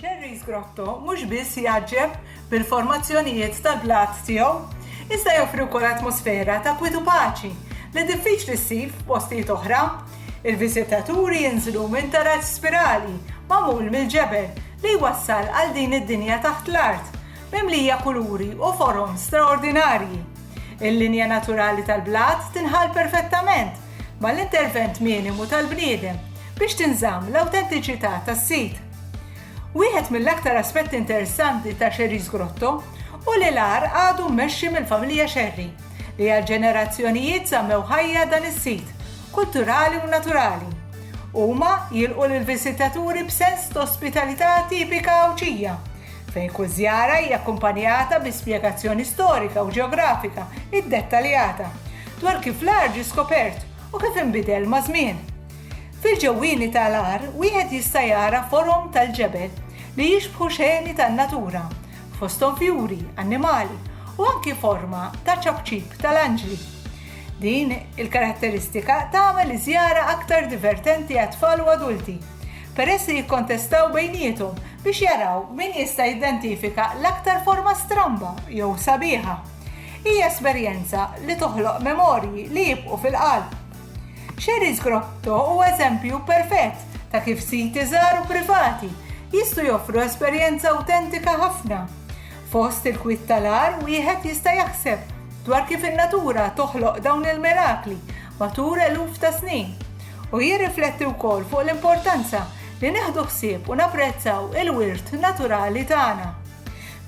Sherry's Grotto mhux biss jgħaġġeb bil-formazzjonijiet tal-blat tiegħu, iżda joffri wkoll atmosfera ta' kwiet u paċi li diffiċli ssib f'postijiet oħra. Il-viżitaturi jinżlu minn taraġ spirali magħmul mill-ġebel li jwassal għal din id-dinja taħt l-art, mimlija kuluri u forom straordinarji. Il-linja naturali tal-blat tinħall perfettament mal-intervent minimu tal-bniedem biex tinżamm l-awtentiċità tas-sit. Wieħed mill-aktar aspetti interessanti ta' Sherry's Grotto hu li l-għar għadu mmexxi mill-familja Sherry li għal ġenerazzjonijiet żammew ħajja dan is-sit kulturali u naturali. Huma jilqu lill-viżitaturi b'sens t'ospitalità tipika Għawdxija, fejn kull żjara hija akkumpanjata bi spjegazzjoni storika u ġeografika iddettaljata dwar kif l-għar ġie skopert u kif inbidel maż-żmien. Fil-ġewwieni ta' l-għar wieħed jista' jara forom tal-ġebel li jixbħu xeni tan-natura, fosthom fjuri, annimali u anki forma ta' ċapċip ta' l-anġli. Din il-karatteristika tagħmel iż-żjara aktar divertenti għat-tfal u adulti. peress li jikkontestaw bejniethom biex jaraw min jista' jidentifika l-aktar forma stramba jew sabiħa. Hija esperjenza li toħloq memorji li jibqgħu fil-qalb. Xerri's Grotto huwa eżempju perfett ta' kif siti żgħar u privati jistgħu joffru esperjenza awtentika ħafna. Fost il-kwiet tal-agħar wieħed jista' jaħseb dwar kif in-natura toħloq dawn il-mirakli matul eluf ta' snin u jirrifletti wkoll fuq l-importanza li nieħdu ħsieb u napprezzaw il-wirt naturali tagħna.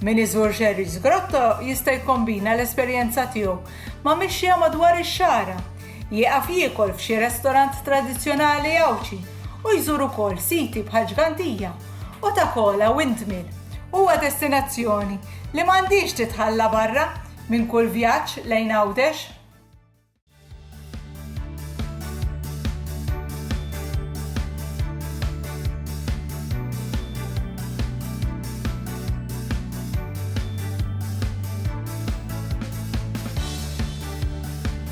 Min iżur Xerrie's Grotto jista' jikkombina l-esperjenza tiegħu ma' mixja madwar ix-xagħra Jieqaf jiekol f'xi restorant tradizzjonali Għawdxi u jżur ukoll siti bħal Ġgantija u Ta' Kola Windmill. Huwa destinazzjoni li m'għandhiex titħalla barra minn kull vjaġġ lejn Għawdex.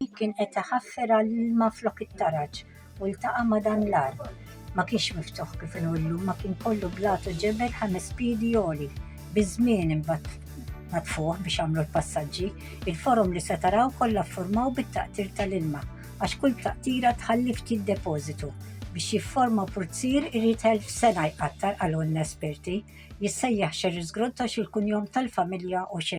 Dik kien qed iħaffer għall-ilma flok it-taraġ u ltaqa' ma' dan l-għar. Ma kienx miftuħ kif inhu llum, ma kien kollu blat u ġebel ħames piedi għoli. Biż-żmien imbagħad natfuh biex għamlu l-passaġġi. Il-forom li se taraw kollha ffurmaw bit-taqtir tal-ilma għax kull taqtira tħalli ftit depożitu. Biex jifforma purzier irid elf sena jqattar qalulna esperti. Jissejjaħ Xerriżgrotto x'il-kunjom tal-familja u xi.